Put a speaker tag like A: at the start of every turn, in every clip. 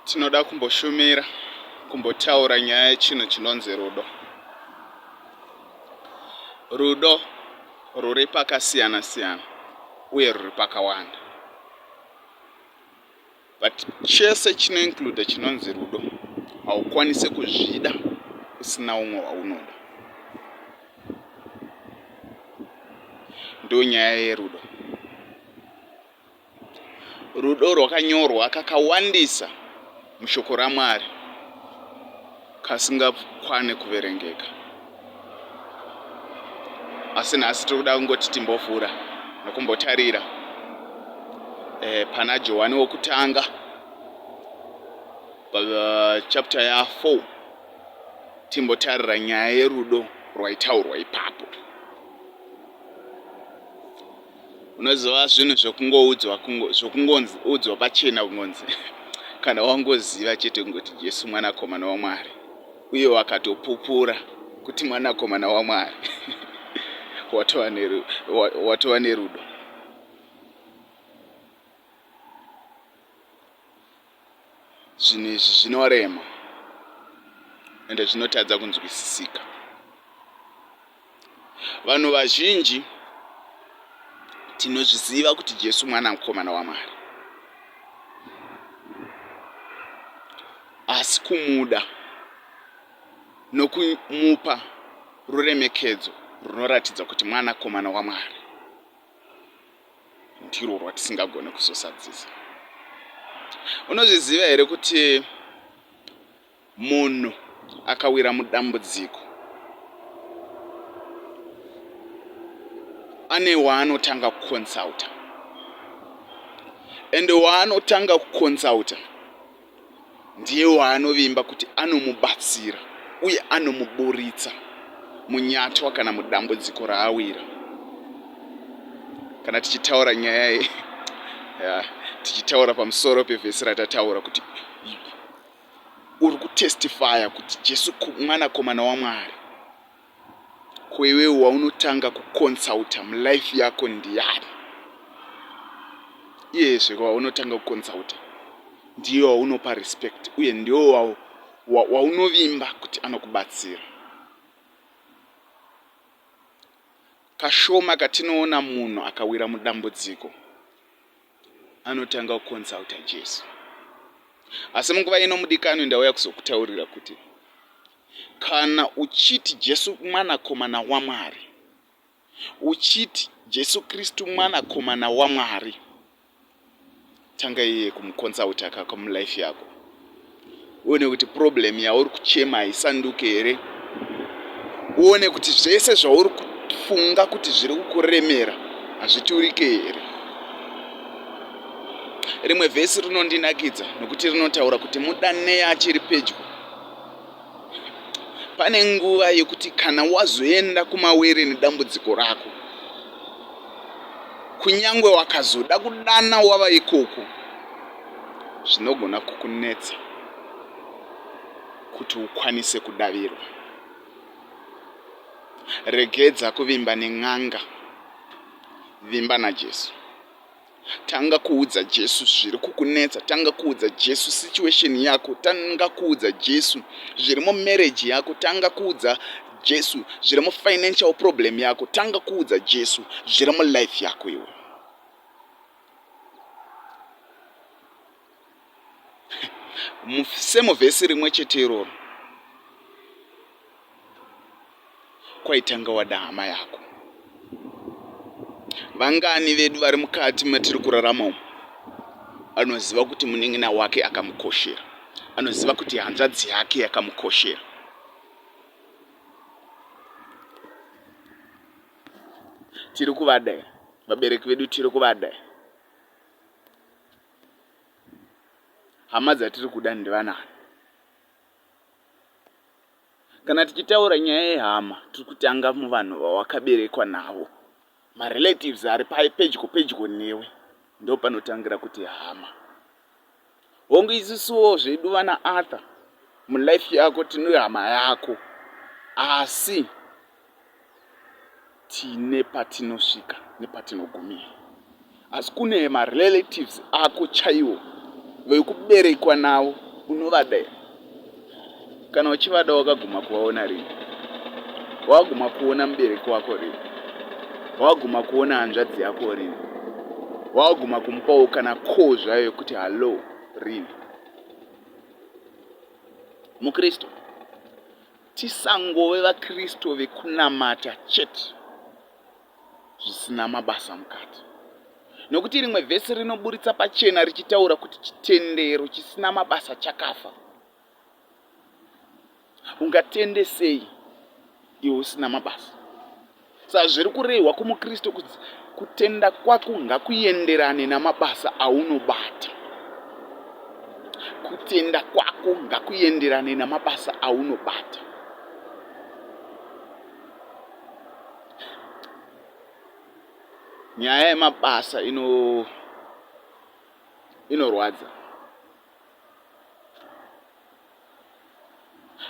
A: tinoda kumboshumira kumbotaura nyaya yechinhu chinonzi rudo rudo ruri pakasiyana siyana uye ruri pakawanda but chese chinoinclude chinonzi rudo haukwanise kuzvida usina umwe waunoda ndonyaya yerudo Rudo rwakanyorwa kakawandisa mushoko raMwari kasingakwane kuverengeka. Asi nhasi tiri kuda kungoti timbovhura nokumbotarira eh, pana Johani wokutanga eh, chapter ya4 timbotarira nyaya yerudo rwaitaurwa ipapo. unoziva zvinhu zvekungoudzwa zvekungonzi udzwa pachena kungonzi kana wangoziva chete kungoti jesu mwanakomana wamwari uye wakatopupura kuti mwanakomana wamwari watova nerudo zvinhu izvi zvinorema ende zvinotadza kunzwisisika vanhu vazhinji tinozviziva kuti jesu mwana mukomana wamwari asi kumuda nokumupa ruremekedzo runoratidza kuti mwanakomana wamwari ndirwo rwatisingagone kuzosadzisa unozviziva here kuti munhu akawira mudambudziko ane waanotanga kuconsulta ende waanotanga kuconsulta ndiye waanovimba kuti anomubatsira uye anomuburitsa munyatwa kana mudambudziko raawira kana tichitaura nyaya ye yeah, tichitaura pamusoro pevhesi ratataura kuti uri kutestifaya kuti jesu mwanakomana wamwari Ko iwewe waunotanga kuconsulter mulife yako ndiani? Iyezve waunotanga kuconsulter ndiye waunopa respect uye ndiwo waunovimba kuti anokubatsira. Kashoma katinoona munhu akawira mudambudziko anotanga kuconsulter Jesu. Asi munguva ino mudikanwi ndauya kuzokutaurira kuti Kana uchiti Jesu mwanakomana waMwari, uchiti Jesu Kristu mwanakomana waMwari, tanga iye kumuconsulta akaka mulife yako uone kuti problem yauri kuchema haisanduke here, uone kuti zvese zvauri kufunga kuti zviri kukuremera hazviturike here. Rimwe vhesi rinondinakidza nokuti rinotaura kuti mudanei achiri pedyo. Pane nguva yekuti kana wazoenda kumawere nedambudziko rako, kunyangwe wakazoda kudana wava ikoko, zvinogona kukunetsa kuti ukwanise kudavirwa. Regedza kuvimba nen'anga, vimba naJesu. Tanga kuudza Jesu zviri kukunetsa. Tanga kuudza Jesu situation yako. Tanga kuudza Jesu zviri mumarriage yako. Tanga kuudza Jesu zviri mufinancial problem yako. Tanga kuudza Jesu zviri mulife yako iwe. same vhesi rimwe chete iroro kwaitanga wada hama yako vangani vedu vari mukati matiri kurarama umu anoziva kuti munin'ina wake akamukoshera anoziva kuti hanzvadzi yake yakamukoshera tiri kuvada vabereki vedu tiri kuvada hama dzatiri kuda ndivanani kana tichitaura nyaya yehama tiri kutanga muvanhu vawakaberekwa navo marelatives ari pedyo pedyo newe ndo panotangira kuti hama hongu isisuwo zvedu vana arthur mulife yako tinohama yako asi tine patinosvika nepatinogumira asi kune marelatives ako chaiwo vekuberekwa navo unovada here kana uchivada wakaguma kuvaona rini waguma kuona mubereki wako rini waguma kuona hanzvadzi yako rini waguma kumupawo kana koo zvayo yekuti hallo rini mukristu Tisangove vaKristu vekunamata chete zvisina mabasa mukati. Nokuti rimwe vhesi rinoburitsa pachena richitaura kuti chitendero chisina mabasa chakafa. Ungatende sei iwe usina mabasa? Sazviri kurehwa kumuKristu kuti kutenda kwako ngakuenderane namabasa aunobata. Kutenda kwako ngakuenderane namabasa aunobata. Nyaya yemabasa ino inorwadza.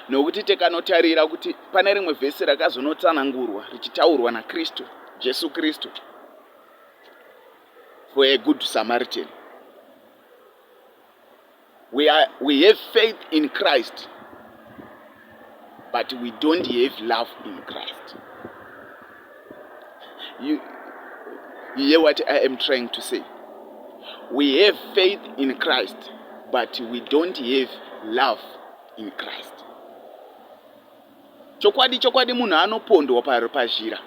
A: nokuti tikanotarira kuti pane rimwe vhesi rakazonotsanangurwa richitaurwa nakristu jesu kristu for a good samaritan we, are, we have faith in christ but we don't have love in christ you, you hear what i am trying to say we have faith in christ but we don't have love in christ chokwadi chokwadi munhu anopondwa pazhira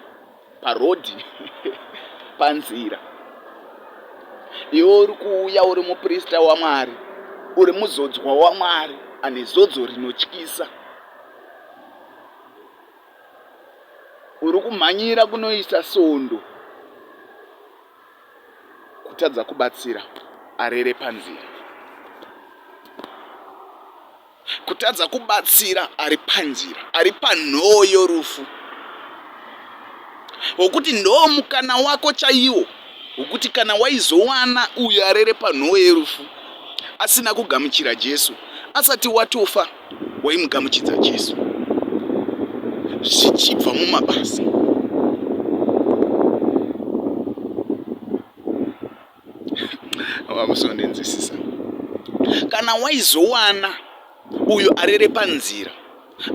A: Paroad panzira iwe uri kuuya uri muprista waMwari uri muzodzwa waMwari ane zodzo rinotyisa uri kumhanyira kunoisa sondo kutadza kubatsira arere panzira Kutadza kubatsira ari panzira, ari panhoo yorufu, wokuti ndoo mukana wako chaiwo wokuti kana waizowana uyo arere panhoo yerufu asina kugamuchira Jesu, asati watofa waimugamuchidza Jesu zvichibva mumabasa. vamusondinzwisisa kana waizowana uyo arere panzira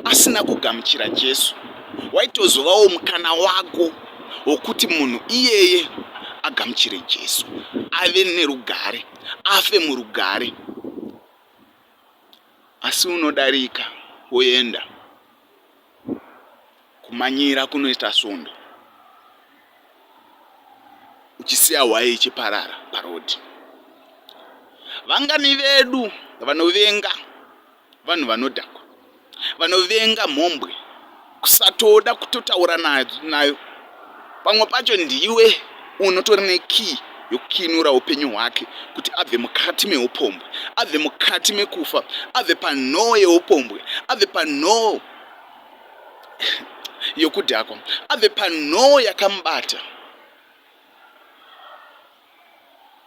A: asina kugamuchira jesu waitozovawo mukana wako wokuti munhu iyeye agamuchire jesu ave nerugare afe murugare asi unodarika woenda kumanyira kunoita svondo uchisiya hwaye ichiparara parodhi vangani vedu vanovenga vanhu vanodhakwa vanovenga mhombwe kusatoda kutotaura nayo Pamwe pacho ndiwe unotori nekiyi yokukinura upenyu hwake kuti abve mukati meupombwe, abve mukati mekufa, abve panhoo yeupombwe, abve panhoo yokudhakwa, abve panhoo yakamubata,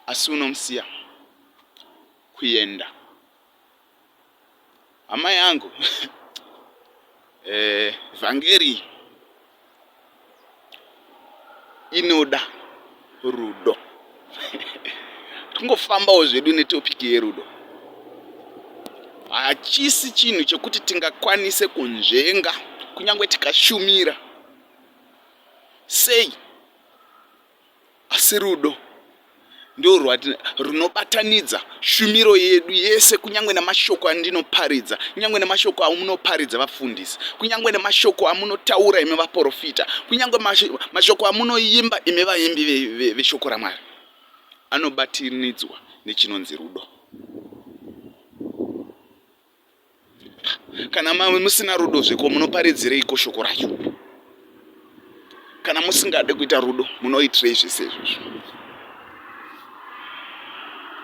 A: asi unomusiya kuenda. Amai angu eh, vhangeri inoda rudo tingofambawo zvedu netopiki yerudo hachisi chinhu chekuti tingakwanise kunzvenga kunyange tikashumira sei Asi rudo ndorwati runobatanidza shumiro yedu yese kunyange nemashoko andinoparidza kunyange nemashoko amunoparidza vafundisi kunyange nemashoko amunotaura imi vaprofita kunyange mashoko amunoimba imi vaimbi veshoko ramwari anobatanidzwa nechinonzi rudo kana mave musina rudo zveko munoparidzireiko shoko racho kana musingade kuita rudo munoitirei zvese izvozvo